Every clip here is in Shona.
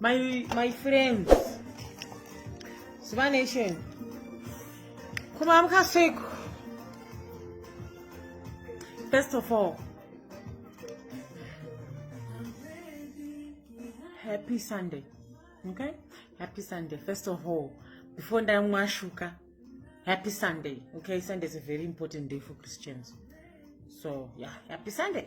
my, my friends zuva nation kuma mukasviko first of all happy sunday okay happy sunday first of all before ndamwashuka happy sunday okay sunday is a very important day for christians so yeah happy sunday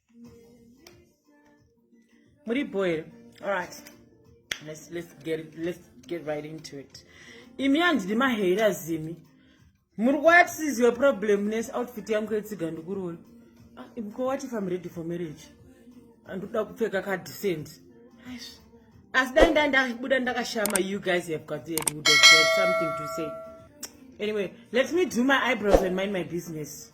muri boil alright let's, let's, get it, let's get right into it imi handidi maheri azimi muri kuuya tisiziwa problem nes outfit yangu yetsiga ndikuroora ah, imko what if im ready for marriage andikuda kupfeka kadecent asi dai nda ndabuda ndakashama you guys have got the would have something to say anyway let me do my eyebrows and mind my business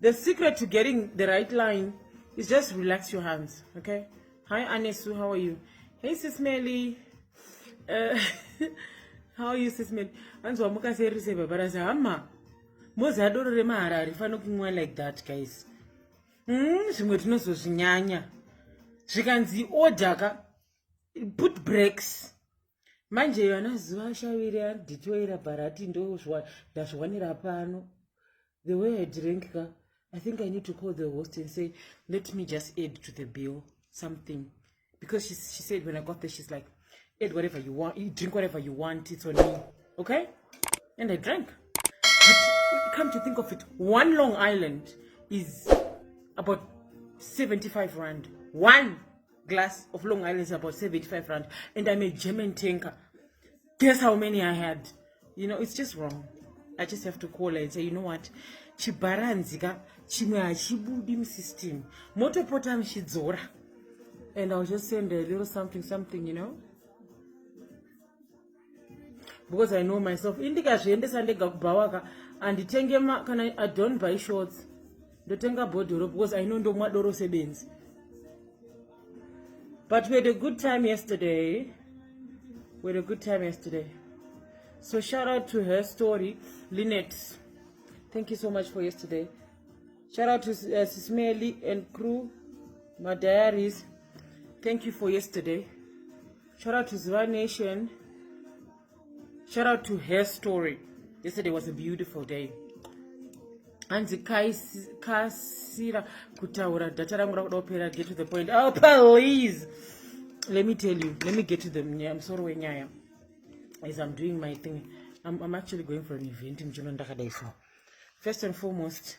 The secret to getting the right line is just relax your hands, okay? Hi, Anesu, how are you? Hey, Sis Melly. Uh, how are you, Sis Melly? Anzi wamuka seri se baba rasa hama. Mozi adoro re mahara arifano kumwa like that, guys. Hmm, zvimwe tinozozvinyanya. Zvikanzi order ka put breaks. manje iyo anaziva ashaviri ari detoira bharati ndozvandazviwanira pano the way i drink ka i think i need to call the host and say let me just add to the bill something because she, she said when i got there she's like add whatever you want you drink whatever you want it's on me okay and i drank but come to think of it one long island is about 75 rand one glass of long island is about 75 rand and i'm a german tanker guess how many i had you know it's just wrong i just have to call her and say you know what chibharanzika chimwe hachibudi musystem motopota muchidzora and i'll just send a little something something you know because i know myself indikazviendesa ndega kubhawaka anditenge kana i don't buy shorts ndotenga bhodhoro because i know ndomwa doro sebenzi but we had a good time yesterday we had a good time yesterday so shout out to her story linet thank you so much for yesterday shout out to uh, sismeli and crew my diaries thank you for yesterday Shout out to Ziva Nation. Shout out to her story. Yesterday was a beautiful day. hanzi kasira kutaura data rangu rakuda kupera get to the point oh please let me tell you let me get to the musoro wenyaya as i'm doing my thing I'm, i'm actually going for an event mjono ndakadai so first and foremost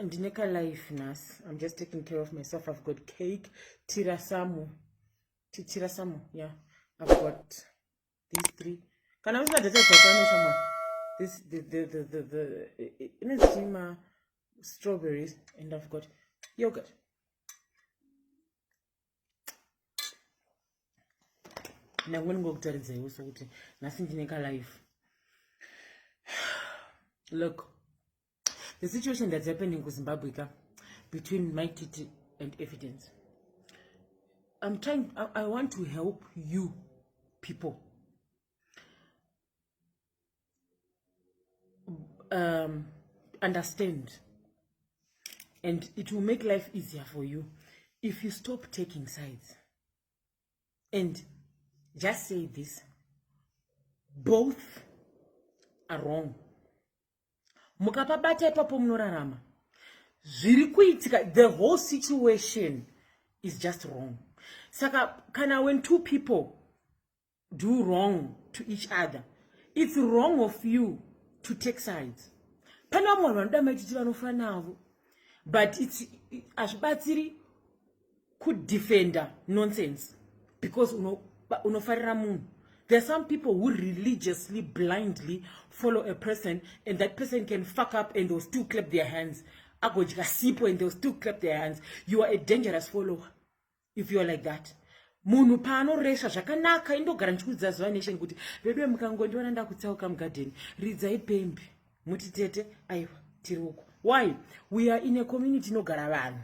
ndine kalife nhasi i'm just taking care of myself i've got cake tirasamu chichira samo yeah i've got these three kana usina data dzakano shama this the the the the, the ine zima strawberries and i've got yogurt ndangu ndingokutaridzaiwo sokuti nhasi ndine kalife look the situation that's happening ku zimbabwe ka between my titi and evidence i'm trying i, I want to help you people um, understand and it will make life easier for you if you stop taking sides and just say this both are wrong mukapabata ipapo munorarama zviri kuitika the whole situation is just wrong saka kana when two people do wrong to each other it's wrong of you to take sides pane vamwe vanhu vanoda maititi vanofana navo but hazvibatsiri kudefender nonsense because unofarira uno munhu there are some people who religiously blindly follow a person and that person can fuck up and they'll still clap their hands agodya sipo and they'll still clap their hands you are a dangerous follower if you are like that munhu paanoresva zvakanaka indogara ndichikuudza zuva nation kuti veduwe mukangondiona ndakutsauka mugadheni ridzai pembe muti tete aiwa tiri uko why we are in a community inogara vanhu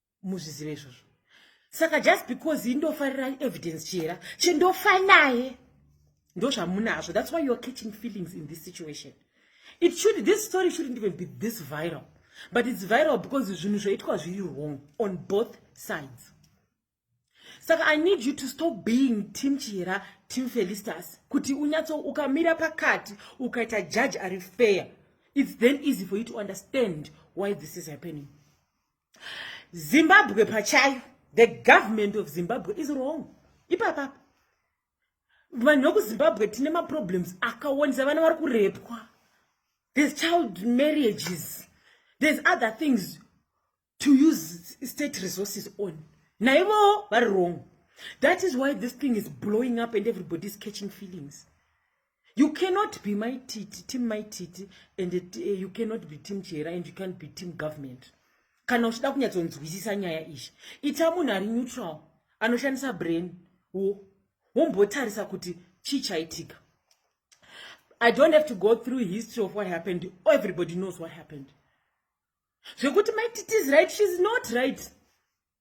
muzvizive izvozvo saka just because indofarira evidence chera chindofa naye ndozvamunazvo that's why youare catching feelings in this situation it should this story shouldn't even be this viral but it's viral because zvinhu zvaitwa zviri wrong on both sides saka i need you to stop being team chihera team felistas kuti unyatso ukamira pakati ukaita judge ari fair it's then easy for you to understand why this is happening zimbabwe pachayo the government of zimbabwe is wrong ipapapa vanhu vekuzimbabwe tine maproblems akawandisa vana vari kurepwa there's child marriages there's other things to use state resources on naivowo vari wrong that is why this thing is blowing up and everybody is catching feelings You cannot be my titi, team my titi, and it, uh, eh, you cannot be team chera, and you can't be team government. Kana uchida kunyatsonzwisisa nyaya ishi, ita munhu ari neutral, anoshandisa brain, wo, wombotarisa kuti chii chaitika. I don't have to go through history of what happened. Everybody knows what happened. Zvekuti my titi is right, she's not right.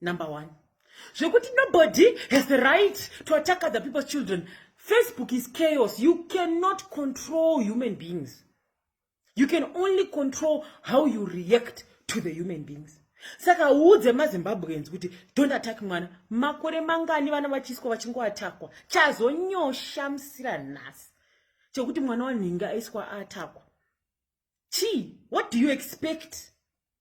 number one zvekuti nobody has the right to attack other people's children facebook is chaos you cannot control human beings you can only control how you react to the human beings saka uudze mazimbabweans kuti don't attack mwana makore mangani vana vachiiswa vachingoatakwa chazonyosha musira nhasi chekuti mwana wanhingi aiswa atakwa chii what do you expect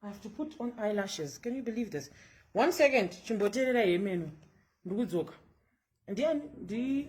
I have to put on eyelashes. Can you believe this? One second, chimboterera yemenu. Ndikudzoka. Ndiye ndi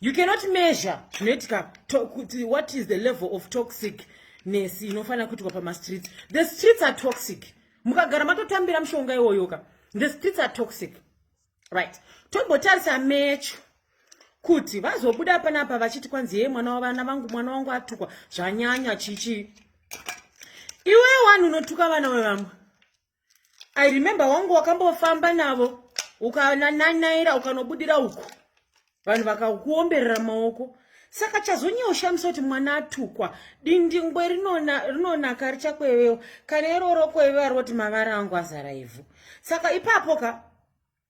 you cannot measure zvinoitika what is the level of toxic nesi inofanira kuitwa pamastreets the streets are toxic mukagara matotambira mushonga iwoyoka the streets are toxic right tombotarisa mecho kuti vazobuda panapa vachiti kwanzi yee mwana wavana vangu mwana wangu atukwa zvanyanya chichi iwewo vanhu unotuka vana vevamwe i remember wangu wakambofamba navo ukananaira ukanobudira uku vanhu vakakuomberera maoko saka chazonyeushamisa kuti mwana atukwa dindingwe rinonaka richakwevewa kana iroro kwevewa roti mavara angu azara ivhu saka ipapo ka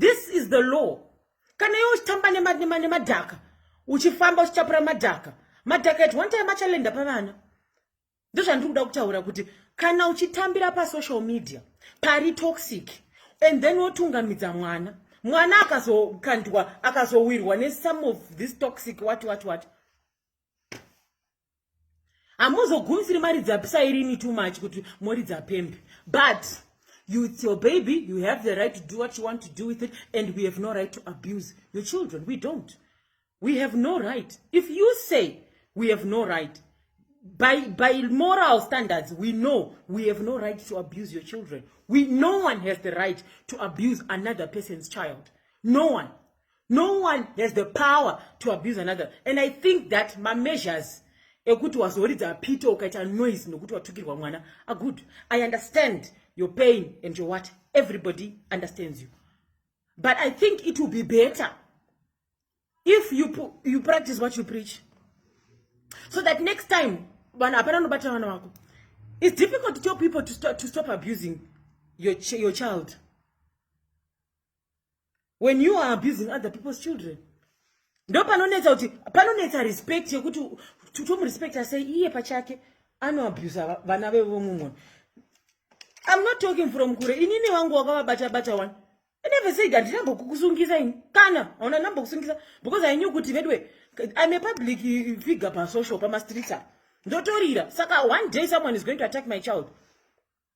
this is the law kana iwe uchitamba nemadhaka uchifamba uchichapura madhaka madhaka at one time achalenda pavana ndozvandiri kuda kutaura kuti kana uchitambira pasocial media pari toxic and then wotungamidza mwana mwana akazokandwa akazowirwa nesome of this toxic wati wati wati hamuzogumisiri maridza pisa irini too much kuti moridza pembe but you it's your baby you have the right to do what you want to do with it and we have no right to abuse your children we don't we have no right if you say we have no right by by moral standards we know we have no right to abuse your children we no one has the right to abuse another person's child no one no one has the power to abuse another and i think that mameasures ekuti wazoridza pita ukaita noise nokuti watukirwa mwana agood ah, i understand your pain and your what everybody understands you but i think it will be better if you, you practice what you preach so that next time vanhu hapana anobatira vana vako it's difficult to tell people to stop, to stop abusing your, ch your child when you are abusing other people's children ndo panonetsa kuti panonetsa respect yekuti tomurespecta sei iye pachake anoabusa vana vevomumwe I'm not talking from kure. Inini wangu wakavabata bata one. I never said that ndina mbokukusungisa ini. Kana hauna namba kusungisa because I knew kuti vedwe I'm a public figure pa social pa streets. Ndotorira. Saka one day someone is going to attack my child.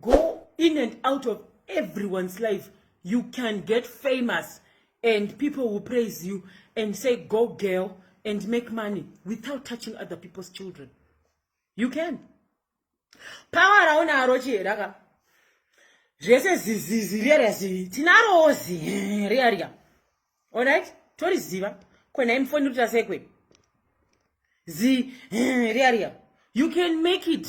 go in and out of everyone's life you can get famous and people will praise you and say go girl and make money without touching other people's children you can power raunaro chieraka zvese zizizi riya zivi tinarowo zi riya riya olright toriziva kwena imufoni rita sekwe zi riya riya you can make it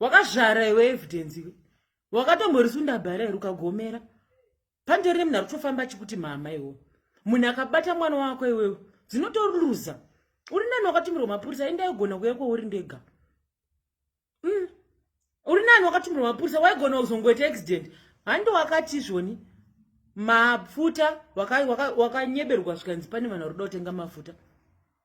wakazvara iwe evidence iwe wakatomborisunda bhara iri ukagomera pandori nemunhu arikutofamba achikuti mama iwo munhu akabata mwana wako iwewe dzinotoruza uri nani wakatumirwa mapurisa enda aigona kuya kwauri ndega mm. uri nani wakatumirwa mapurisa waigona kuzongoita accident handi wakati izvoni mapfuta wakanyeberwa waka, waka zvikanzi pane vanhu vari kuda kutenga mafuta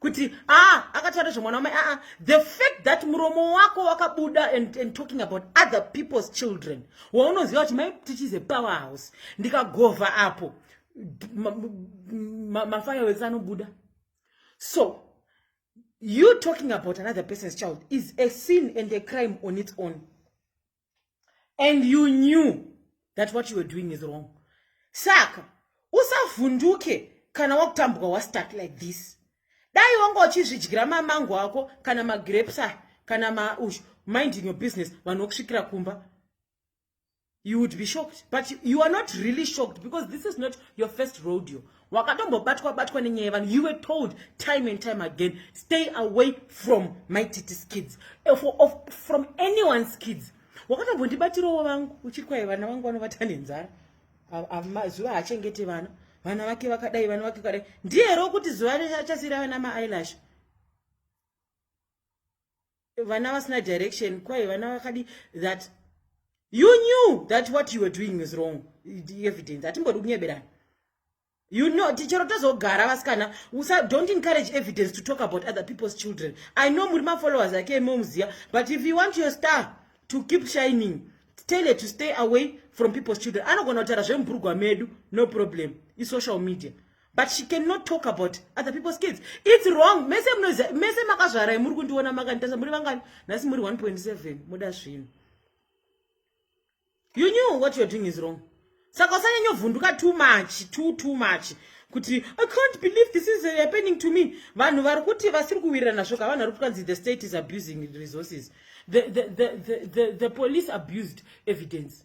kuti ah akataura zvemwana wamai aa ah, ah. the fact that muromo wako wakabuda and, and talking about other people's children waunoziva kuti mai tichize power house ndikagovha apo mafireworks ma, ma anobuda so you talking about another person's child is a sin and a crime on its own and you knew that what you were doing is wrong saka usavhunduke kana wakutambuka wastuck like this dai wanga uchizvidyira mamango ako kana magrapes a kana maush mind in your business vanhu vokusvikira kumba you would be shocked but you are not really shocked because this is not your first rodeo wakatombobatwa batwa nenyaya yevanhu you were told time and time again stay away from my titis kids eh, for, of, from anyone's kids wakatombondibatirowo vangu uchiri kwaye vana vangu vanovata nenzara mazuva haachengete vana vana vake vakadai vana vake kadai ndiye ro kuti zuva achasira vana maailash vana vasina direction kwaye vana vakadi that you knew that what you were doing was wrong evidence hatimbodi kunyeberana you know tichero tozogara vasikana usa don't encourage evidence to talk about other people's children i know muri mafollowers ake emomuziva but if you want your star to keep shining tell her to stay away from people's children anogona kutaura zvemubhurugwa medu no problem isocial media but she cannot talk about other people's kids its wrong mese munoziva mese makazvarai muri kundiona makanditarisa muri vangani nhasi muri 1.7 muda zvinhu you knew what you're doing is wrong saka usanyanya vhunduka too much too too much kuti i can't believe this is happening to me vanhu vari kuti vasiri kuwirirana svoka vanhu vari kutwanzi the state is abusing resources the, the, the, the, the, the police abused evidence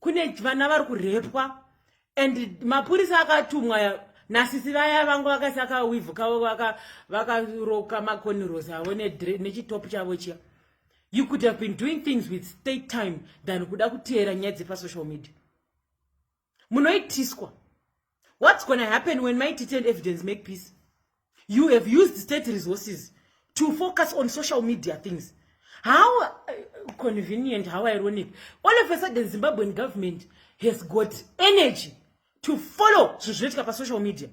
kune vana vari kurepwa and mapurisa akatumwa nasisi vaya vangu vakasi akawivhuka vakaroka maconiros avo nechitopu chavo chiya you could have been doing things with state time than kuda kuteera nyaya dzepasocial media munoitiswa what's gonna happen when my detailed evidence make peace you have used state resources to focus on social media things how uh, convenient how ironic all of a sudden zimbabwean government has got energy to follow zvinhu zvinoitika pasocial media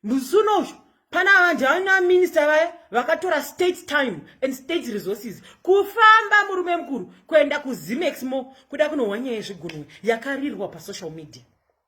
musi unouzvo pana vanhu havana minista vaya vakatora state time and state resources kufamba murume mukuru kuenda kuzimaxmo kuda kunohwa nyaya yezvigunwe yakarirwa pasocial media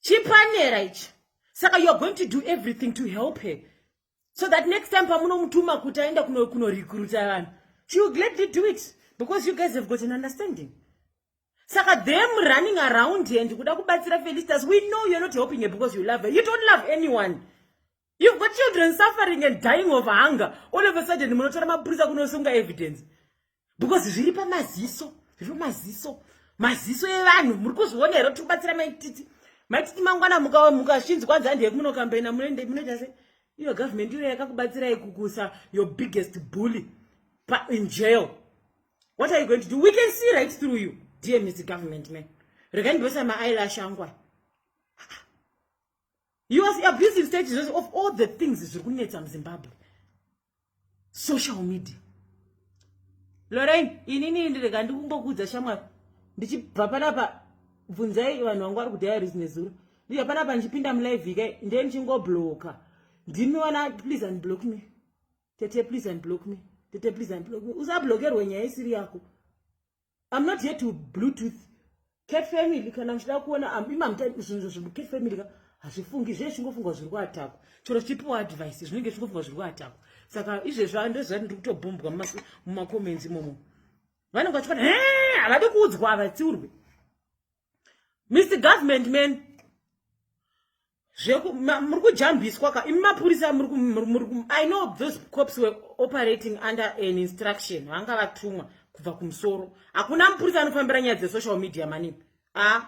chipanera ichi saka youare going to do everything to help her so that next time pamunomutuma kuti aenda kunorekruta vanhu she will gladly do it because you guys have got an understanding saka them running around and kuda kubatsira felicitas we know youare not helping her because you love her you don't love anyone You've got children suffering and dying of hunger. All of a sudden, munotora mapurisa kunosunga evidence. Because zviri pamaziso, zviri pamaziso. Maziso evanhu, muri kuzviona here kuti kubatsira maititi. Maititi mangwana mukashinzi kwanzi handi yekunokambaina munoenda munoita sei? Iyo government iyo yakakubatsirai kukusa your biggest bully pa in jail. What are you going to do? We can see right through you, dear Mr. Government man. Regai ndose ma eyelash angwa. you are abusing state resources of all the things zviri kunetsa muzimbabwe social media lorain inini ndirega ndikungokuudza shamwari ndichibva panapa bvunzai vanhu vangu vari kudaya rizi nezuro ndichibva panapa ndichipinda mulive ikai ndiye ndichingobloka ndimiona please and block me tete please and block me tete please and block me usablokerwe nyaya isiri yako I'm not here to Bluetooth. Cat family, kana mchida kuona, I'm ima mta, zvinhu zvinhu, cat family, ka, hazvifungi, zviye chingofungwa zviri kuatakwa. Choro chipiwa advice, zvinenge chingofungwa zviri kuatakwa. Saka, izve zva, ndo zva, ndiri kutobhombwa muma comments imomo. Vanenge vachikona, hee, havadi kuudzwa, havatsiurwe. mr government man muri kujambiswa ka imi mapurisa i know those cops were operating under an instruction vanga vatumwa kubva kumusoro hakuna mupurisa anofambira nyaya dzesocial media manini a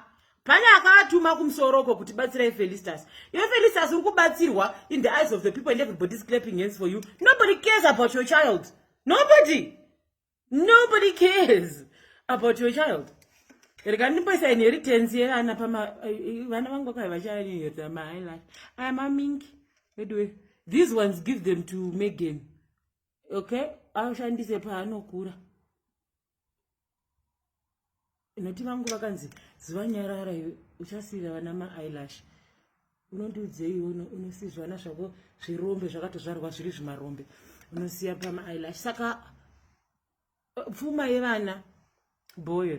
pane akavatuma kumusoro uko kuti batsirai felistas iwe felistas uri kubatsirwa in the eyes of the people and everybody is clapping hands for you nobody cares about your child nobody nobody cares about your child rega ndipoisa inheritance yevana pama vana vangu vakai vachainheritsa mahighlight aya mamingi veduwe these ones give them to megan okay ashandise paanokura Noti vangu vakanzi ziva nyarara iwe uchasiira vana maeyelash unondiudzei uno unosizvana zvako zvirombe zvakatozvarwa zviri zvimarombe unosiya pamaeyelash saka eh, pfuma yevana boyo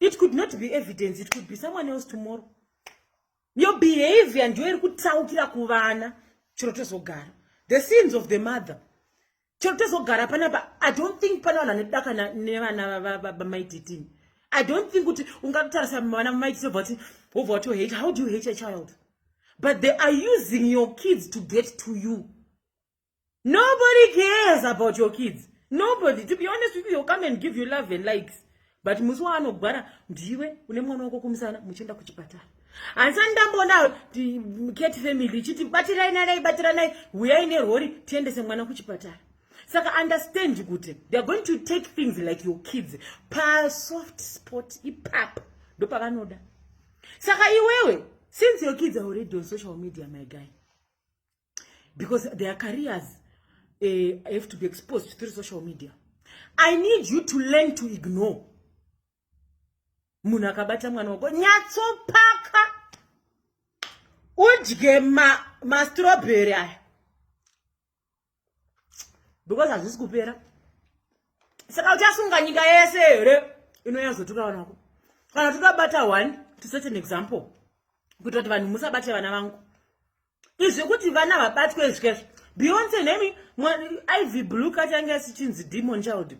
it could not be evidence it could be someone else tomorrow your behavior ndiyo iri kutsaukira kuvana chero tozogara the sins of the mother chero tozogara panapa i don't think pana vanhu vanodaka nevana vamaititini i don't think kuti ungatotarisa vana vamaititi obva kuti obva kuti hate how do you hate a child but they are using your kids to get to you nobody cares about your kids nobody to be honest with you you'll come and give you love and likes but musi waanogwara ndiwe une mwana wako kumusana muchienda kuchipatara hansani ndamboona cat family ichiti batirai narai batiranai huyai nerori tiendese mwana kuchipatara saka understand kuti theyare going to take things like your kids pasoft spot ipapa ndopavanoda saka iwewe since your kids are already on social media my guy because their careers uh, have to be exposed through social media i need you to learn to ignore munhu akabata mwana wako nyatsopaka udye mastrobheri ma aya because hazvisi kupera saka uchasunga nyika yese here inonyazotuka vana vako kana tikabata one to set an example kuita kuti vanhu musabate vana vangu izvi kuti vana vabatwe zvikezvo beyonce nemi ivy blue kati ange asichinzi demon child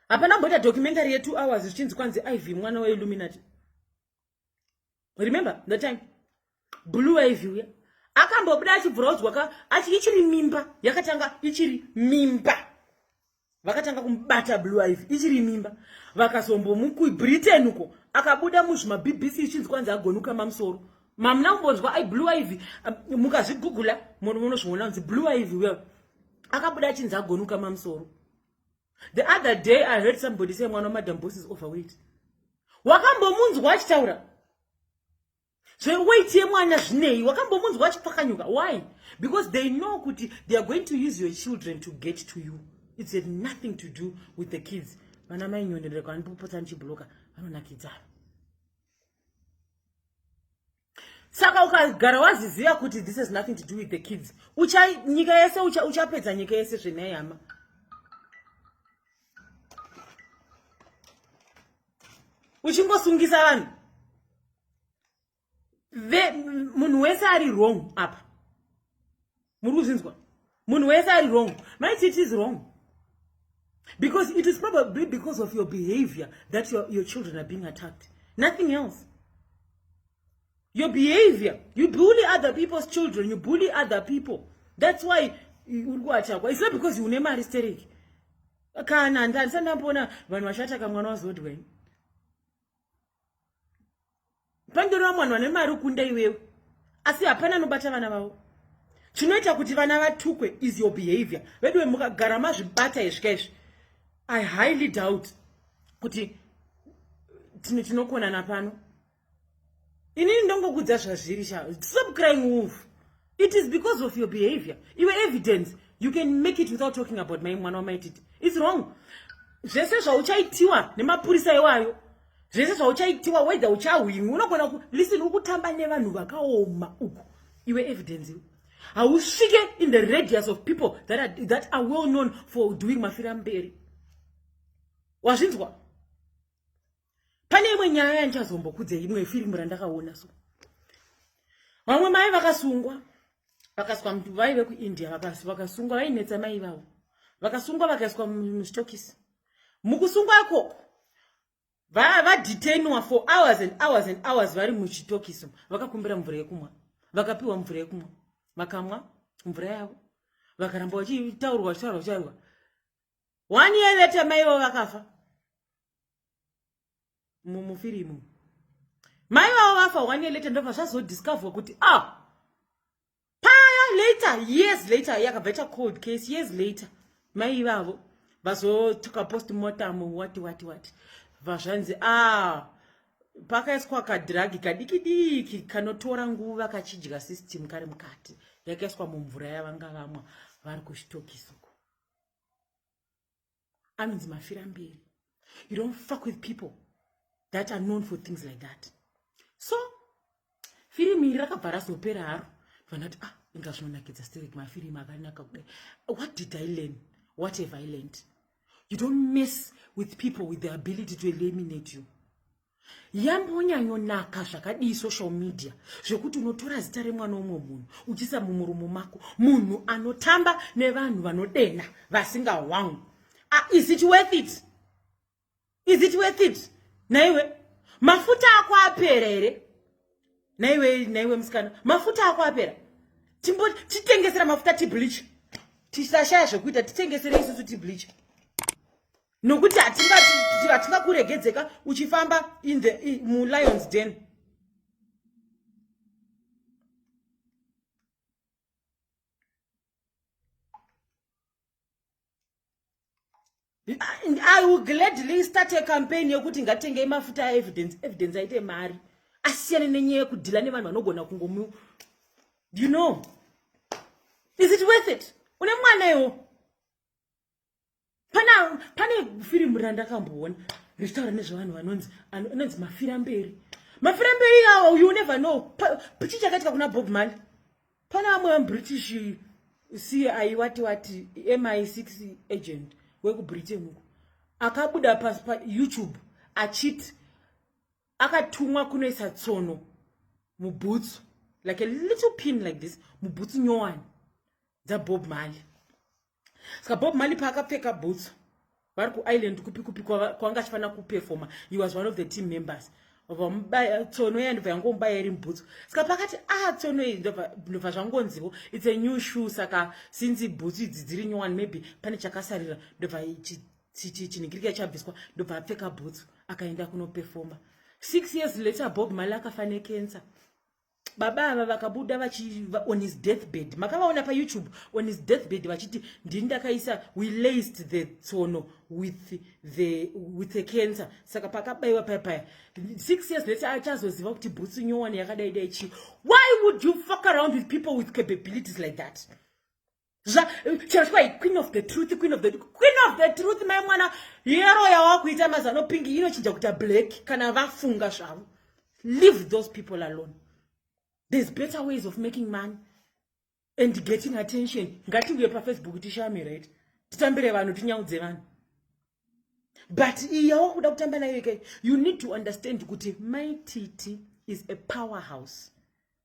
hapana mboita documentary yetwo hours zvichinzi kwanzi ivy mwana weilluminati remember the time blue ivy uya akambobuda achibvura udzwaka achi ichiri mimba yakatanga ichiri mimba vakatanga kumubata blue iv ichiri mimba vakazombomukui britain uko akabuda muzvima bbc ichinzi kwanzi agonuka mamusoro mamuna kumbonzwa ai blue iv um, mukazvigugula munozviona kunzi blue iv well akabuda achinzi agonuka mamusoro the other day i heard somebody say mwana wamadam bosses overweight wakambomunzwa achitaura zveweight yemwana zvinei wakambomunzwa achipfakanyuka why because they know kuti they are going to use your children to get to you its had nothing to do with the kids vana mai nyonderera kwanipopotsa ndichibloka vanonakidzana saka ukagara waziziva kuti this has nothing to do with the kids ucha nyika yese uchapedza nyika yese zvenai hama uchingosungisa vanhu munhu wese ari wrong apa muri kuzvinzwa munhu wese ari wrong maiti it is wrong because it is probably because of your behavior that your, your children are being attacked nothing else your behavior you bully other people's children you bully other people that's why uri kuatakwa it's not because une mari stereki kana ndandisa ndambona vanhu vashata kamwana wazodwai pandoreva mwanhu vane mari ukunda iwewe asi hapana anobata vana vavo chinoita kuti vana vatukwe is your behavior veduwe mukagara mazvibata izvika izvi i highly doubt kuti tinokonana pano inini ndongokudza zvazviri sha stop crying wolf it is because of your behavior iwe evidence you can make it without talking about mai mwana wamaititi its wrong zvese zvauchaitiwa nemapurisa iwayo zvese zvauchaitiwa wedha uchahwimwi unogona ku listen ukutamba nevanhu vakaoma uku iwe evidence iwe hausvike in the radius of people that are, that are well known for doing mafira mberi wazvinzwa pane imwe nyaya yandichazombokudze imwe firimu randakaona so vamwe mai vakasungwa vakaswa mntu vaive kuindia vakasungwa vainetsa mai vavo vakasungwa vakaiswa mustokisi mukusungwa ikoko vadetainwa for hours and hours and hours vari muchitokiso vakakumbira mvura yekumwa vakapiwa mvura yekumwa vakamwa mvura yavo vakaramba vachitaurwa vachitaurwa vachitaurwa one year later maivo vakafa mumufirimu mai vavo vafa one year later ndobva zvazodiscoverwa kuti a ah, paya later years later yakabva ita cold case years later mai ivavo vazotuka post motamo wati wati wati vazvanzi a ah, pakaiswa kadhiragi kadiki diki kanotora nguva kachidya system kari mukati yakaiswa mumvura yavanga vamwa vari kuchitokisoko anonzi mafira mberi you don't fuck with people that are known for things like that so firimu iri rakabva razopera haro vanoti ah inga zvinonakidza steric mafirimu akanaka kudai what did i learn what have i learned you don't mess with people with the ability to eliminate you yambonyanyonaka zvakadii social media zvekuti unotora zita remwana womwe munhu uchiisa mumurumo mako munhu anotamba nevanhu vanodenha vasingawangu ah, is it worth it is it worth it naiwe mafuta ako apera here naiwe naiwe musikana mafuta ako apera timbo titengesera mafuta tibleach tisashaya zvekuita titengesere isusu tibleach nokuti hatingakuregedzeka uchifamba in the mulions den i will gladly start a campaign yekuti ngatengei mafuta aevidence evidence aite mari asiyane nenyaya yekudhila nevanhu vanogona kungomu you know is it worth it une mwana iwo pana pane firimu randakamboona richitaura nezvevanhu vanonzi anonzi mafira mberi mafira mberi awo you never know chii chakaitika kuna bob mali pana vamwe vamubritish si aiwati wati mi six agent wekubritain uko akabuda payoutube achiti akatumwa kunoisa tsono mubhutsu like a little pin like this mubhutsu nyowani dzabob mali ska bob mali paakapfeka bhutsu vari kuisland kupi kupi kwanga achifanira kuperfoma he was one of the team members vamubaya tsono iya ndobva yangomubaya iri mubhutsu ska pakati a ah, tsono iyi ndobva zvangonziwo its a new shoe saka since bhutsu idzi dziri new one maybe pane chakasarira ndobva chinhingirika chabviswa ndobva apfeka bhutsu akaenda kunoperfoma six years later bob mali akafa necancer baba ava vakabuda vachi on his deathbed makavaona payoutube on his deathbed vachiti ndini ndakaisa we laced the tsono with the with a cancer saka pakabaiwa paya paya six years late achazoziva kuti bhutsu nyowani yakadai dai chii why would you fuck around with people with capabilities like that zva chero chikwa queen of the truth queen of the queen of the truth mai mwana yero yawakuita mazano pink inochinja kuita black kana vafunga zvavo leave those people alone there's better ways of making money and getting attention ngatiuye pafacebook tishame right titambire vanhu tinyaudze vanhu but iya wakuda kutamba nayo ikai you need to understand kuti my titi is a power house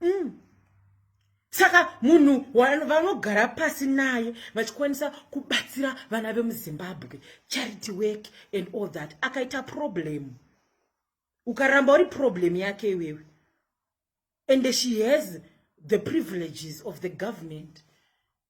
mm. saka munhu vanogara pasi naye vachikwanisa kubatsira vana vemuzimbabwe charity work and all that akaita problem ukaramba uri problem yake iwewe and she has the privileges of the government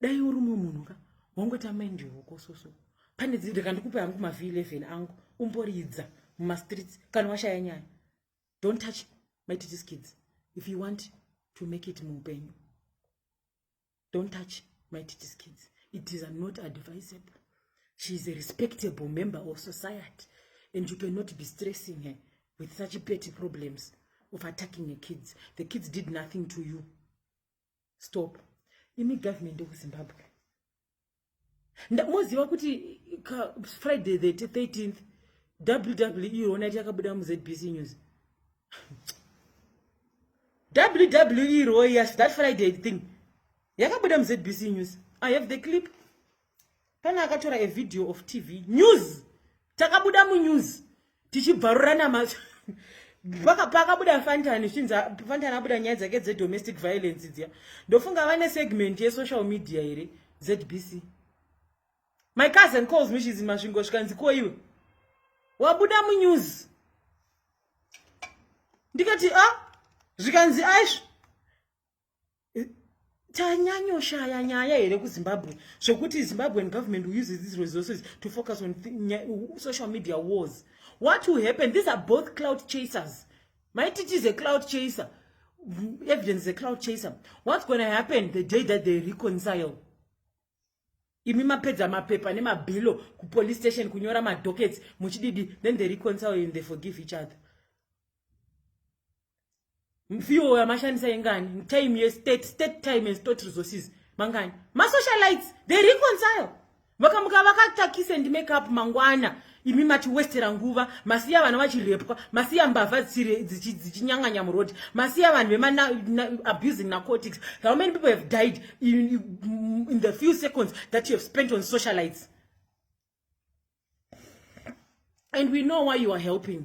dai uri mumwe munhu ka wangota mind yoko soso pane dzidhi kandikupe hangu mavhi 11 angu umboridza mumastreets kana washaya nyaya don't touch my teachers kids if you want to make it muupenyu don't touch my teachers kids it is not advisable she is a respectable member of society and you cannot be stressing her with such petty problems of attacking her kids the kids did nothing to you stop imi government yekuzimbabwe moziva kuti friday the 13th wwe irona iti yakabuda muzbc news wwe royas that friday thing yakabuda muzbc news i have the clip Pane akatora a video of TV news takabuda munews tichibvarurana macho pakabuda fantani zvinzi fantani abuda nyaya dzake dzedomestic violence dziya ndofunga vane segment yesocial media here zbc my cousin calls me she's in masvingo zvikanzi ko iwe wabuda munews ndikati a ah, zvikanzi aizvo tanyanyoshaya nyaya here kuzimbabwe zvekuti zimbabwean government uses these resources to focus on social media wars what will happen these are both cloud chasers maiti it is a cloud chaser evidence is a cloud chaser what's going to happen the day that they reconcile imi mapedza mapepa nemabhilo kupolice station kunyora madockets muchididi then they reconcile and they forgive each other mfiwo yamashandisa ingani mtime yestate state time and state resources mangani masocialites they reconcile vakamuka vakatakise ndi make up mangwana imi mati westera nguva masiya vana vachirepwa masiya mbavha dzichinyanganya murodi masiya vanhu vemaabusing narcotics how many people have died in, in the few seconds that you have spent on socialites and we know why you are helping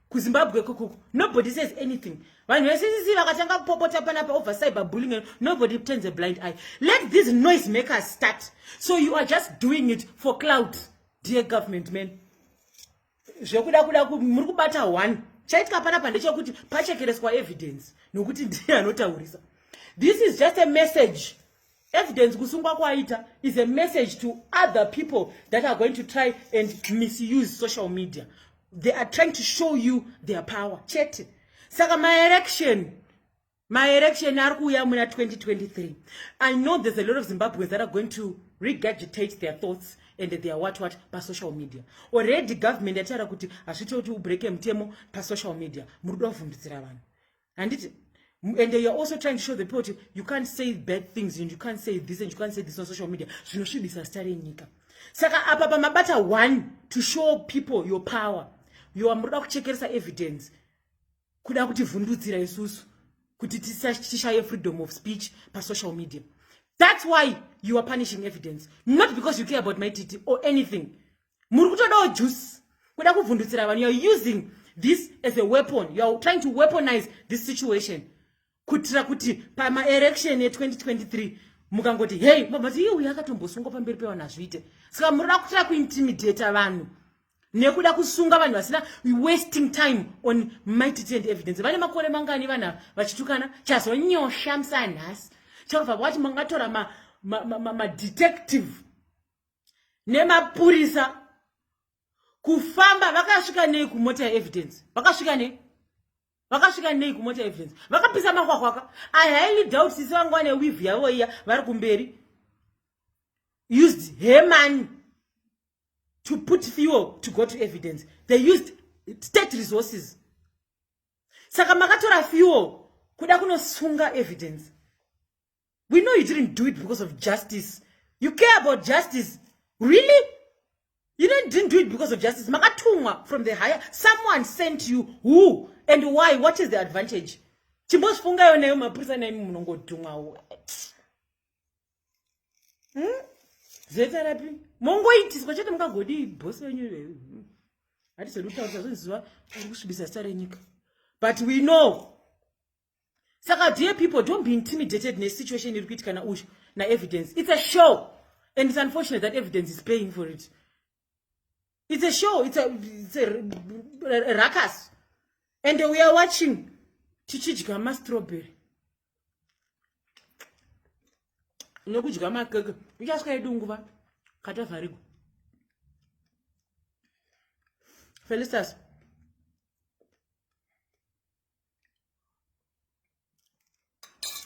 kuzimbabwe kuku nobody says anything vanhu vesisi vakatanga kupopota panapa over cyber bullying and nobody turns a blind eye let these noise makers start so you are just doing it for cloud dear government man zvekuda kuda muri kubata one chaitika panapa ndechekuti pachekereswa evidence nokuti ndiye anotaurisa this is just a message Evidence kusungwa kwaita is a message to other people that are going to try and misuse social media. They are trying to show you their power. Chete. Saka my election my election ari kuuya muna 2023 i know there's a lot of zimbabweans that are going to regurgitate their thoughts and their what what pasocial media already government yataura kuti hazviti kuti ubreake mutemo pasocial media muri kuda kuvhundutsira vanhu handiti and you're also trying to show the people kuti you can't say bad things and you can't say this and you can't say this on social media zvinosvibisa zita renyika saka apa pamabata one to show people your power yoa muroda kuchekeresa evidence kuda kuti vhundudzira isusu kuti tishaye freedom of speech pasocial media that's why you are punishing evidence not because you care about my titi or anything muri kutodawo juice kuda kuvhundutsira vanhu youare using this as a weapon youare trying to weaponize this situation kuitira kuti pamaerection ye2023 mukangoti hei mabati iye uyo akatombosungwa pamberi pevanhu azviite saka muroda kutira kuintimidata vanhu nekuda kusunga vanhu vasina wasting time on mighty and evidence vane makore mangani vanhu vachitukana chazonyosha musanhasi chakabva kwati mangatora madetective ma, ma, ma, ma nemapurisa kufamba vakasvika nei kumota yeevidence vakasvika nei vakasvika nei kumota yeevidence vakapisa makwakwaka i highly doubt sisi vangu vane wivhu yavo iya vari kumberi used her money to put fuel to go to evidence they used state resources saka makatora fuel kuda kunosunga evidence we know you didn't do it because of justice you care about justice really you didn't, didn't do it because of justice makatumwa from the higher someone sent you who and why what is the advantage chimbozvifungayo nayo mapurisa naimi munongodhumwawo hmm? zeta rapi mongoitiswa chete mukagodi bosi venyu iveyo hmm. hatizodi kutaurisa zvinziva uri kusvibisa sita renyika but we know saka dear people don't be intimidated nesituation iri kuitikana uyu naevidence it's a show and it's unfortunate that evidence is paying for it it's a show it's a, it's a, a, a ruckus and we are watching tichidya mastrawberry nokudya makeke ichasvika yedu nguva katavharigwa felistas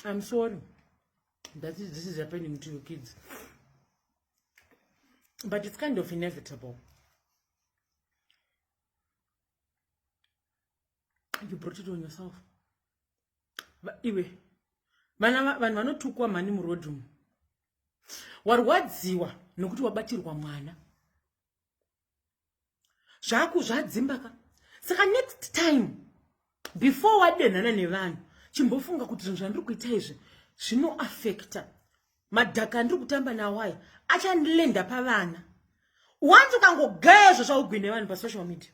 I'm sorry that is, this is happening to your kids. But it's kind of inevitable. You brought it on yourself. But anyway, vanhu vanotukwa mhani muroad umu warwadziwa nokuti wabatirwa mwana zvaku zvadzimba ka saka next time before wadenhana nevanhu chimbofunga kuti zvinhu zvandiri kuita izvi zvinoafekta madhaka andiri kutamba nawo aya achandilenda pavana wanzi ukangogaya izvo zvaugwine vanhu pasocial media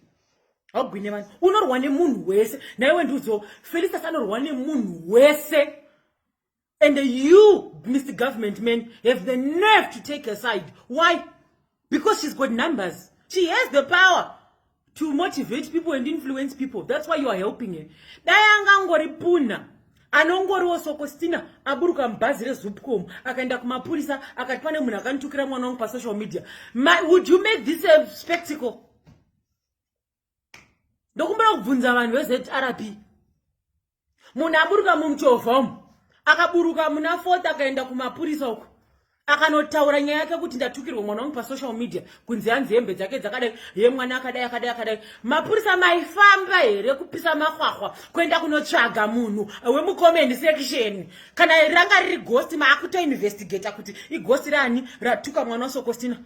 haugwine vanhu unorwa nemunhu wese naiwe ndiudziwo felistas anorwa nemunhu wese And you, Mr. Government man, have the nerve to take her side. Why? Because she's got numbers. She has the power to motivate people and influence people. That's why you are helping her. Dayanga ngori puna. anongoriwo sokostina aburuka mubhazi rezupcom akaenda kumapurisa akati pane munhu akanditukira mwana wangu pasocial media My, would you make this a spectacle ndokumbira kubvunza vanhu vezrp munhu aburuka mumuchovha umu akaburuka muna fort akaenda kumapurisa uku akanotaura nyaya yake kuti ndatukirwa mwana wangu pasocial media kunzi hanzi hembe dzake dzakadai ye mwana akadai akadai akadai mapurisa maifamba here kupisa mahwahwa kuenda kunotsvaga munhu wemucomment section kana ranga riri gosti maakutoinvestigata kuti igosti rani ratuka mwana wasokostina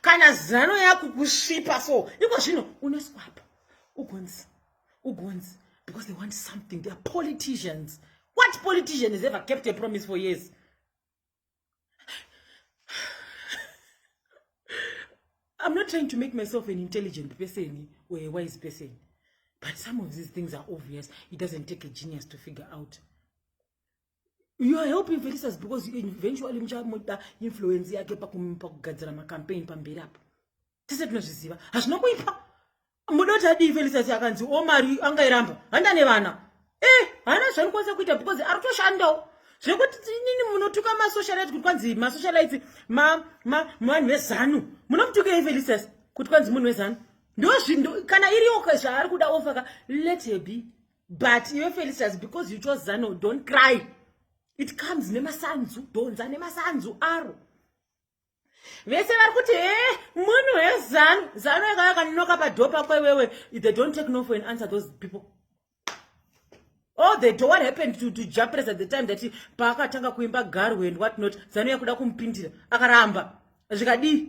kana zano yakukusvipa so iko zvino unoswapa ugonzi ugonzi because they want something theyare politicians what politician has ever kept a promise for years i'm not trying to make myself an intelligent person or a wise person but some of these things are obvious it doesn't take a genius to figure out you are helping felisas because eventually muchamuda influence yake pakugadzira macampaign pamberi apo tese tinozviziva hazvina kuipa muda kuti adii felisas akanzi o oh, mari angairamba handa nevana e eh, haana zvanikwanisa kuita because ari kutoshandawo zvekuti inini munotuka masocialite kuti kwanzi masocialite vanhu vezanu munomutukei felisas kuti kwanzi munhu wezanu ndozvindo kana iriyoka zvaari kuda ofaka let her be but iwe felicitas because you chose zano don't cry it comes nemasanzu dhonza nemasanzu aro vese vari kuti he eh, munhu wezanu zanu yaka yakanonoka padhoo pako iwewe they don't take no for an answer those people all the door what happened to, to japres at the time that paakatanga kuimba garwe and what not zanu yakuda kumupindira akaramba zvikadii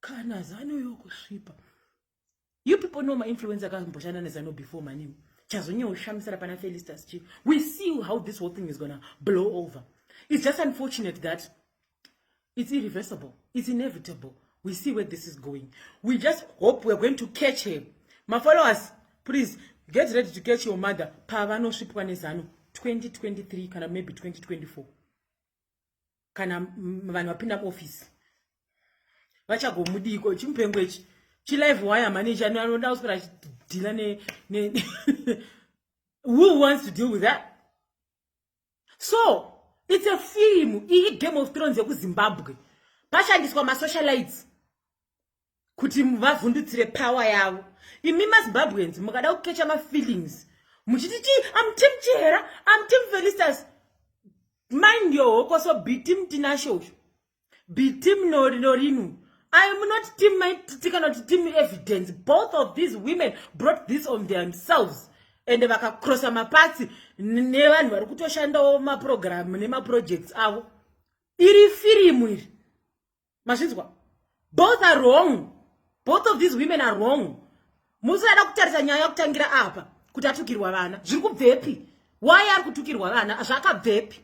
kana zano yokusvipa you people know mainfluence akamboshanda nezano before maniu chazonyewo shamisira pana felistas chi we see how this whole thing is gonna blow over it's just unfortunate that it's irreversible it's inevitable we see where this is going we just hope we're going to catch him mafollowers please get ready to catch your mother pavanosvipwa nezano 2023 kana maybe 2024 kana vanhu vapinda muofisi vachagomudiiko chimupengo ichi chilive waya manager anoda kuswera achidhila ne who wants to deal with that so it's a film iyi game of thrones yekuzimbabwe pashandiswa masocialites kuti vavhundutsire power yavo imi mazimbabweans mukada kukecha mafeelings muchiti chii am tim chihera am tim felistas mind your hokoso bitim tinasho usho bitim norinu i am not tim maititi kana kuti tim evidence both of these women brought this on themselves ende vakakrosa mapatsi nevanhu vari kutoshandawo maprogramu nemaprojects avo iri firimu iri mazvinzwa both are wrong both of these women are wrong musada kutarisa nyaya kutangira apa kuti atukirwa vana zviri kubvepi why ari kutukirwa vana zvakabvepi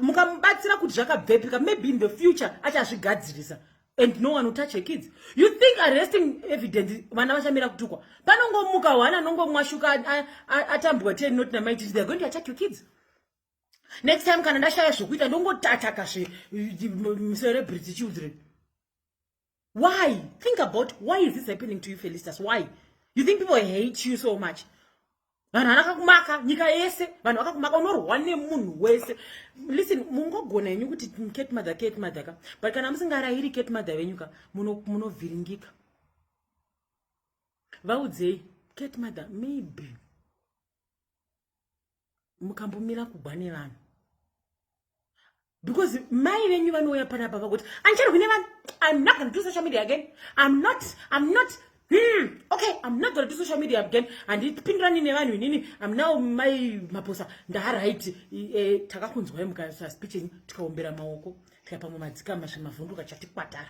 mukamubatsira kuti zvakabvepi ka maybe in the future achazvigadzirisa and no one will touch her kids you think arresting evidence vana vachamira kutukwa panongomuka one anongomwashuka atambwa ten not namaititi they're going to attack your kids next time kana ndashaya zvokuita ndongotataka zve celebrity children why think about why is this happening to you felistas why you think people hate you so much vanhu vanakakumaka nyika yese vanhu vakakumaka unorwa nemunhu wese listen mungogona henyu kuti ket mother ket mother ka but kana musingarayiri ket mother venyu ka munovhiringika vaudzei ket mother maybe mukambomira kugwa nevanhu because mai venyu vanouya panapa vakuti andicharwi nevanhu i'm not gonna do social media again i'm not i'm not Hmm, okay, I'm not going to do social media again. And it's been running around with Nini. I'm now my maposa. Ndaha right. Eh, taka kunzwa hemu kaya sa speech ni. Tika umbira maoko. Tika pamu madzika masha mavundu kachati kwatara.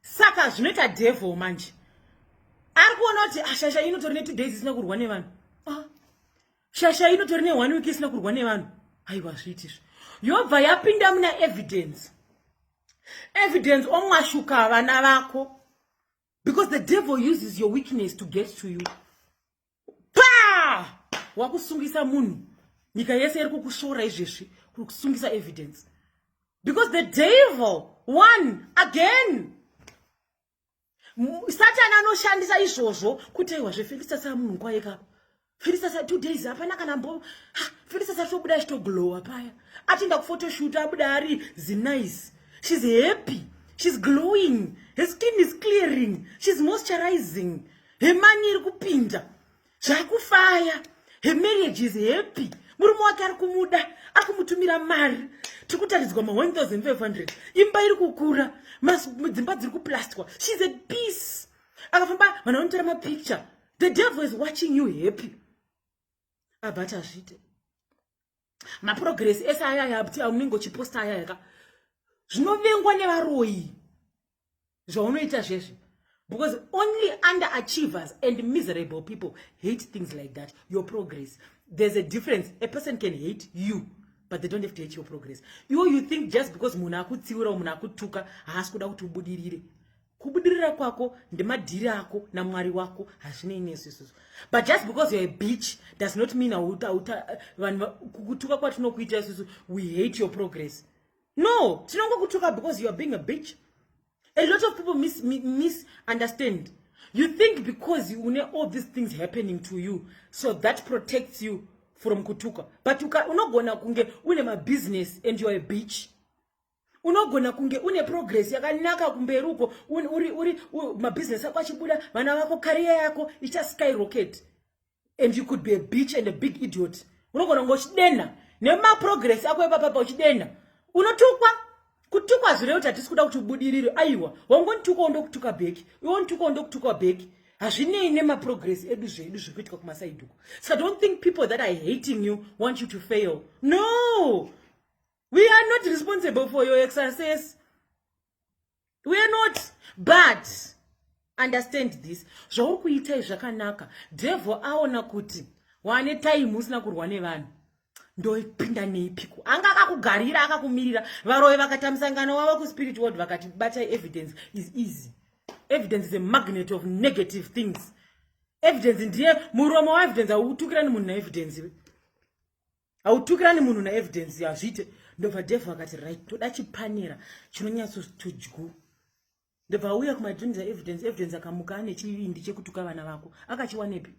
saka zvinoita devil manje ari kuona kuti ah, shasha inotori ne2 days isina kurwa nevanhu ah, shasha inotori ne one week isina kurwa nevanhu aiwa zviitizvo yobva yapinda muna evidence evidence omwashuka vana vako because the devil uses your weakness to get to you pa wakusungisa munhu nyika yese iri kukushora izvezvi kuri kusungisa evidence because the devil one again satani anoshandisa izvozvo kuti aiwa zvefelista saa munhu nguva yekapa felista sa two days hapana kana mbo felista sa tobuda achitoglowa paya atienda kufotoshoot abuda ari zinice shes happy shes glowing his skin is clearing shes moisturizing her money iri kupinda zvakufaya her marriage is happy murume wake ari kumuda ari kumutumira mari tiri kutaridzwa ma 1500 imba iri kukura dzimba dziri kuplastwa shes at peace akafamba vanhu vanotora mapicture the devil is watching you happy abva ati azviite maprogress ese ayaya kuti aunenge uchiposta ayaya ka zvinovengwa nevaroyi zvaunoita zvese because only under achievers and miserable people hate things like that your progress there's a difference a person can hate you but they don't have to hate your progress you, you think just because munhu akutsiura munhu akutuka haasi kuda kuti ubudirire kubudirira kwako ndemadhiri ako namwari wako hazvinei nesususu but just because youare a beach does not mean auta uta vanhu kukutuka kwatinokuita isusu we hate your progress No, tinongokutuka because you are being a bitch. A lot of people mis misunderstand. You think because you know all these things happening to you, so that protects you from kutuka. But you can unogona kunge une ma business and you are a bitch. unogona kunge une progress yakanaka kumberi uko uri uri mabusiness ako achibuda vana vako career yako icha skyrocket and you could be a beach and a big idiot unogona kunge uchidenha nemaprogress ako epapapa uchidenha unotukwa kutukwa zvire kuti hatisi kuda kuti ubudirire aiwa wangondituka wondokutuka bheki iwondituka wondokutuka bheki hazvinei nemaprogress edu zvedu zviri kuitika kumasaidi uko saka don't think people that are hating you want you to fail no we are not responsible for your exercise we are not but understand this zvauri kuita izvi zvakanaka devil aona kuti wane time usina kurwa nevanhu ndoipinda neipiko anga akakugarira akakumirira varoyi vakaita musangano wavo kuspirit world vakati bata evidence is easy evidence is a magnet of negative things evidence ndiye muromo waevidence hautukirani munhu naevidence hautukirani munhu naevidence hazviite ndobva devhu akati right toda chipanera chinonyatsotudyu ndobva auya kumadrinza evidence evidence akamuka ane chivindi chekutuka vana vako akachiwanepi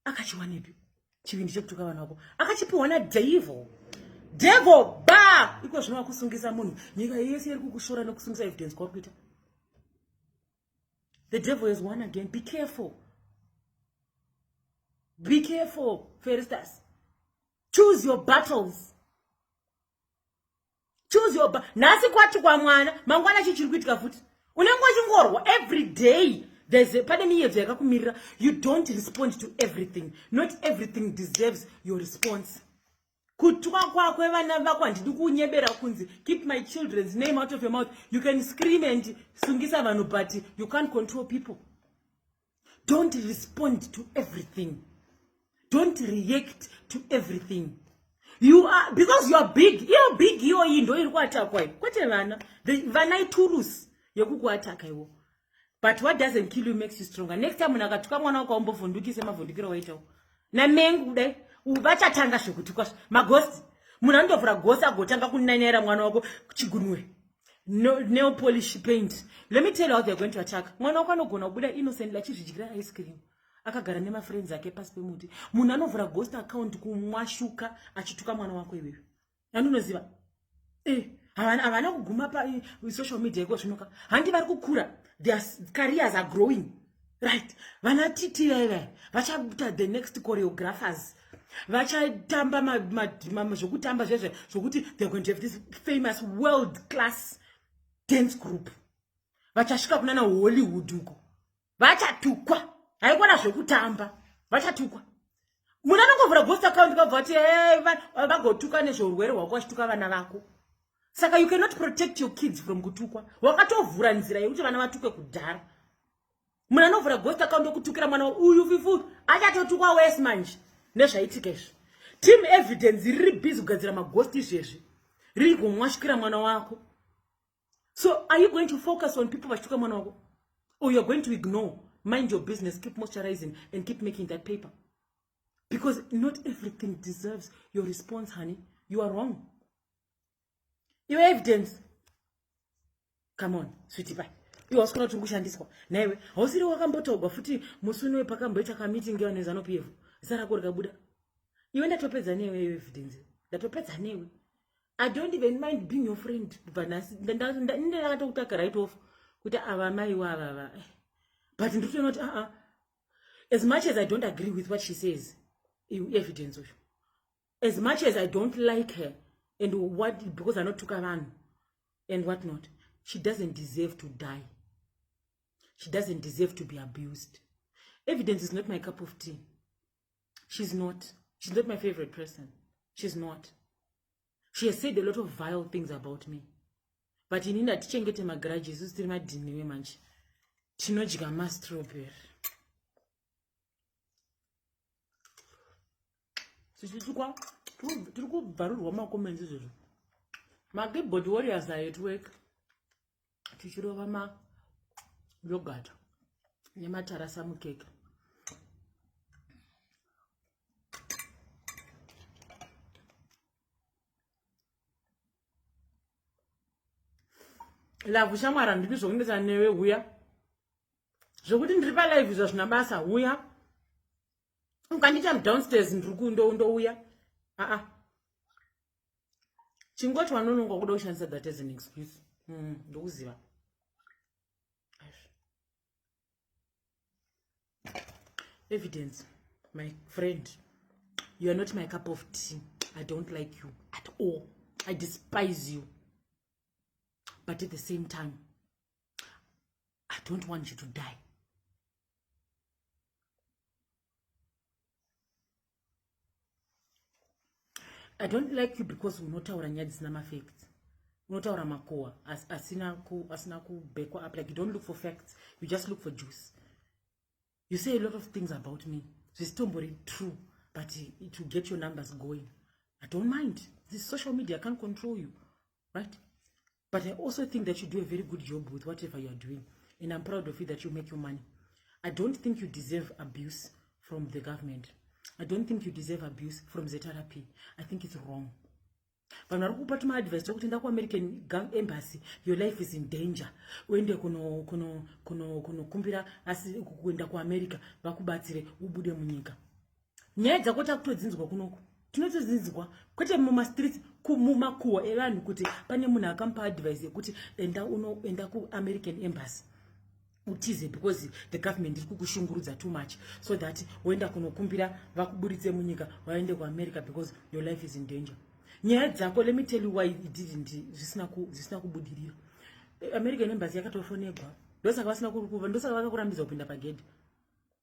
akachiwanepi chivindi chekutuka vana vako akachipiwa nadevo devo ba iko zvino wakusungisa munhu nyika yese iri kukushora nekusungisa evidence kwauri kuita the devil has won again be careful be careful feristas choose your battles choose your nhasi kwati kwamwana mangwana chi chiri kuitika futi unenge uchingorwa every day there's a pane miyedzo yakakumirira you don't respond to everything not everything deserves your response kutwa kwakwe vana vako handidi kunyebera kunzi keep my children's name out of your mouth you can scream and sungisa vanhu but you can't control people don't respond to everything don't react to everything you are because you are big iyo big iyoyi ndo iri kuatakwa kwete vana vana iturusi yekukuataka iwo but what doesn't kill you makes you stronger next time munhu akatuka mwana wako aumbovhundukise mavhundukiro waitawo namengu kudai vachatanga zvekutukwa magosti munhu anondovhura gosi agotanga kunanyaira mwana wako chigunwe no, nail polish paint let me tell you how they're going to attack mwana wako anogona kubuda innocently achizvidyira ice cream akagara nemafriends ake pasi pemuti munhu anovhura ghost account kumwashuka achituka mwana wako iweyo nani unoziva eh, havana kuguma pasocial eh, media iko zvinoka handi vari kukura their careers are growing right vana titi vaiva vachaita the next choreographers vachatamba zvekutamba zvezve zvokuti they're going to have this famous world class dance group vachasvika kunana hollywood uko vachatukwa haikona zvekutamba vachatukwa munhu anongovhura ghost account kabva vati eh, vagotuka nezveurwere hwako vachituka vana vako saka you cannot protect your kids from kutukwa wakatovhura nzira yekuti vana vatukwe kudhara munhu anovhura ghost account okutukira mwana uyu fifu achatotukwa wes manje nezvaitika izvi team evidence riri busy kugadzira maghost izvezvi riri kumwashukira mwana wako so are you going to focus on people vachituka mwana wako or youare going to ignore mind your business keep moisturizing and keep making that paper because not everything deserves your response honey you are wrong your evidence come on switi pai iwe wasikona kuti kushandiswa naiwe hausiri wakambotogwa futi musi unowe pakamboita kamiting yevanhu vezanopi yevo zita rako rikabuda iwe ndatopedza newe iyo evidence ndatopedza newe i don't even mind being your friend kubva nhasi ndakatokutaka right off kuti ava maiwo avava eh. but nditoona kuti aa ah, ah. as much as i don't agree with what she says evidence uyu as much as i don't like her and what because anotuka vanhu and what not she doesn't deserve to die she doesn't deserve to be abused evidence is not my cup of tea she's not she's not my favorite person she's not she has said a lot of vile things about me but ini ndatichengete magaraji isu tiri madhiniwe manje tinodya mastrawberry tichitukwa tiri kubvarurwa makomenzi izvozvo makeyboard warriors are at work tichirova ma yogurt nematarasa mukeke lavhu shamwari handidi zvokunetsa newe huya zvokuti ndiri palive zvazvina basa huya ukandiita mudownstairs ndiri kundouya aa chingoti vanononga kuda kushandisa that as an excuse mm, ndokuziva mm, evidence my friend you are not my cup of tea i don't like you at all i despise you but at the same time i don't want you to die i don't like you because unotaura nyaya dzisina mafacts unotaura makowa asina asina kubekwa up like you don't look for facts you just look for juice you say a lot of things about me zvisitombori true but it will get your numbers going i don't mind this social media can't control you right but i also think that you do a very good job with whatever youare doing and i'm proud of you that you make your money i don't think you deserve abuse from the government i don't think you deserve abuse from zrp i think it's wrong vanhu vari kupa tuma advice tokuti enda kuamerican embassy your life is in danger uende kunokumbira asi kuenda kuamerica vakubatsire ubude munyika nyaya dzako takutodzinzwa kunoku tinotodzinzwa kwete mumastreets mumakuhwa evanhu kuti pane munhu akamupa advice yekuti enda unoenda kuamerican embassy utize because the government iri kukushungurudza too much so that woenda kunokumbira vakuburitse munyika waende kuamerica because your life is in danger nyaya dzako let me tell you why it didn't zvisina kubudirira american embassy yakatofonegwa ndosaka vasina kukuva ndosaka vakakurambidza kupinda pagedhi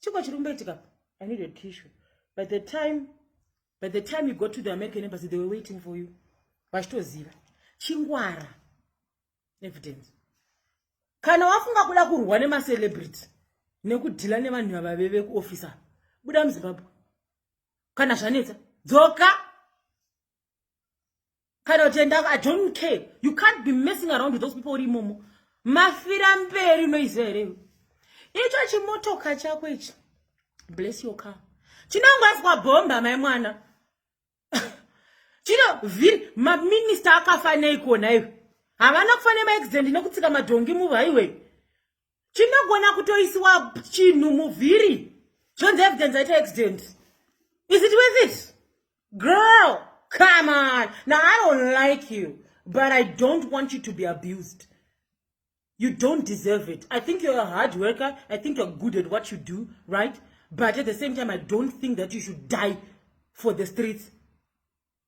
chiko chiri kumboitika i need a tissue by the time by the time you go to the american embassy they were waiting for you vachitoziva chingwara evidence kana wafunga kuda kurwa nemacelebrity nekudhila nevanhu vava veve kuofficer buda muzimbabwe kana zvanetsa dzoka kana kuti enda i don't care you can't be messing around with those people uri imomo mafira mberi unoiziva here icho chimotoka chako ichi bless your car chinongoiswa bhomba mai mwana chino vhiri maminista akafanei kuona iwe havana kufanira maaccident nekutsika madhongi muva iwe chinogona kutoisiwa chinhu muvhiri zvonzi evidence aita accident is it worth it girl come on now i don't like you but i don't want you to be abused you don't deserve it i think you're a hard worker i think you're good at what you do right but at the same time i don't think that you should die for the streets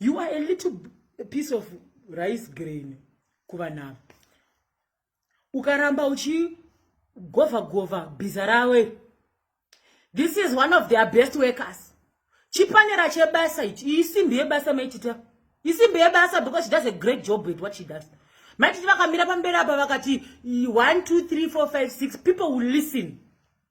you are a little piece of rice grain kuvanhu ava ukaramba uchigovha govha bhiza rawe this is one of their best workers chipanera chebasa ichi iyi simbi yebasa maitita isimbi yebasa because she does a great job with what she does maititi vakamira pamberi apa vakati 1 2 3 4 5 6 people will listen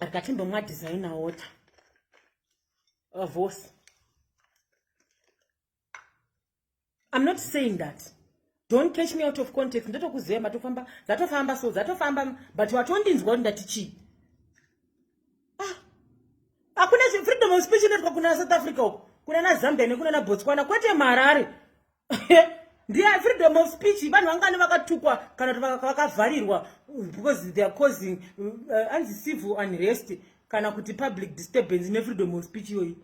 akatindomwa designer water vavose i'm not saying that don't catch me out of context ndotokuziva matofamba dzatofamba so dzatofamba but watondinzwa kuti ndati chii ah, hakuna ah, freedom of speech inoitwa kuna south africa uko kuna nazambia nekuna nabotswana kwete marare ndiye freedom of speech vanhu vangani vakatukwa kana kuti vakavharirwa because their causing uh, anzi civil unrest kana kuti public disturbance nefreedom of speech iyoyi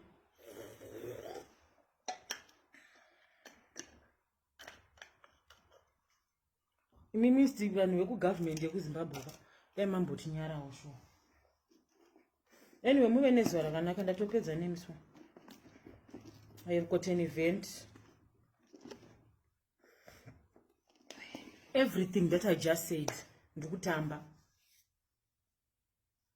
imi mist vanhu vekugovernment yekuzimbabwe ka dai mambotinyarawo sho anyway muve nezuva rakanaka ndatopedza nemiswa i have got an event everything that i just said ndikutamba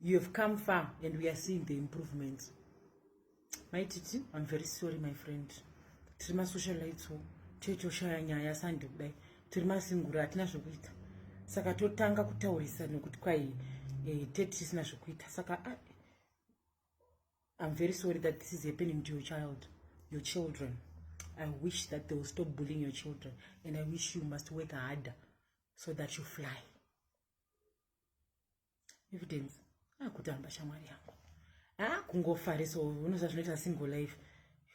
you have come far and we are seeing the improvements mai titi i'm very sorry my friend tiri masocialites wo toitoshaya nyaya sande kudai tiri masingura hatina zvekuita saka totanga kutaurisa nekuti kwai eh, tete tisina zvekuita saka ah, i'm very sorry that this is happening to your child your children i wish that they will stop bullying your children and i wish you must work harder so that you fly evidence akutamba shamwari yangu akungofarisa unoziva zvinoita single life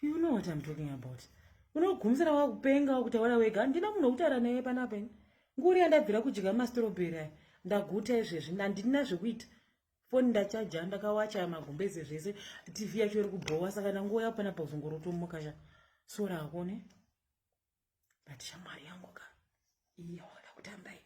you know what im talking about unogumisira wakupenga wakutaura wega handina munhu wekutaura naye panapa ini nguri yandabvira kudya mastroberi aya ndaguta izvezvi handina zvekuita foni ndachaja ndakawacha magumbeze zvese tv yacho iri kubhowa saka ndanguva yapo panapa kuzongorotomuka sha sora ako ne but shamwari yangu ka iyoda kutamba iyi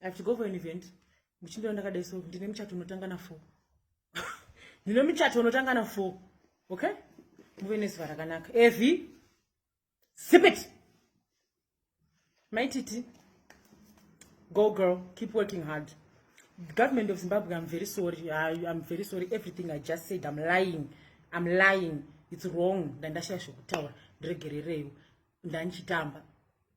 i have to go for an event muchindira ndakadai so ndine muchato unotanga na four ndine muchato unotanga na four okay muve nezuva rakanaka evi sipit maititi go girl keep working hard government of zimbabwe i'm very sorry I, i'm very sorry everything i just said i'm lying i'm lying it's wrong ndandashaya zvekutaura ndiregerereiwo ndandichitamba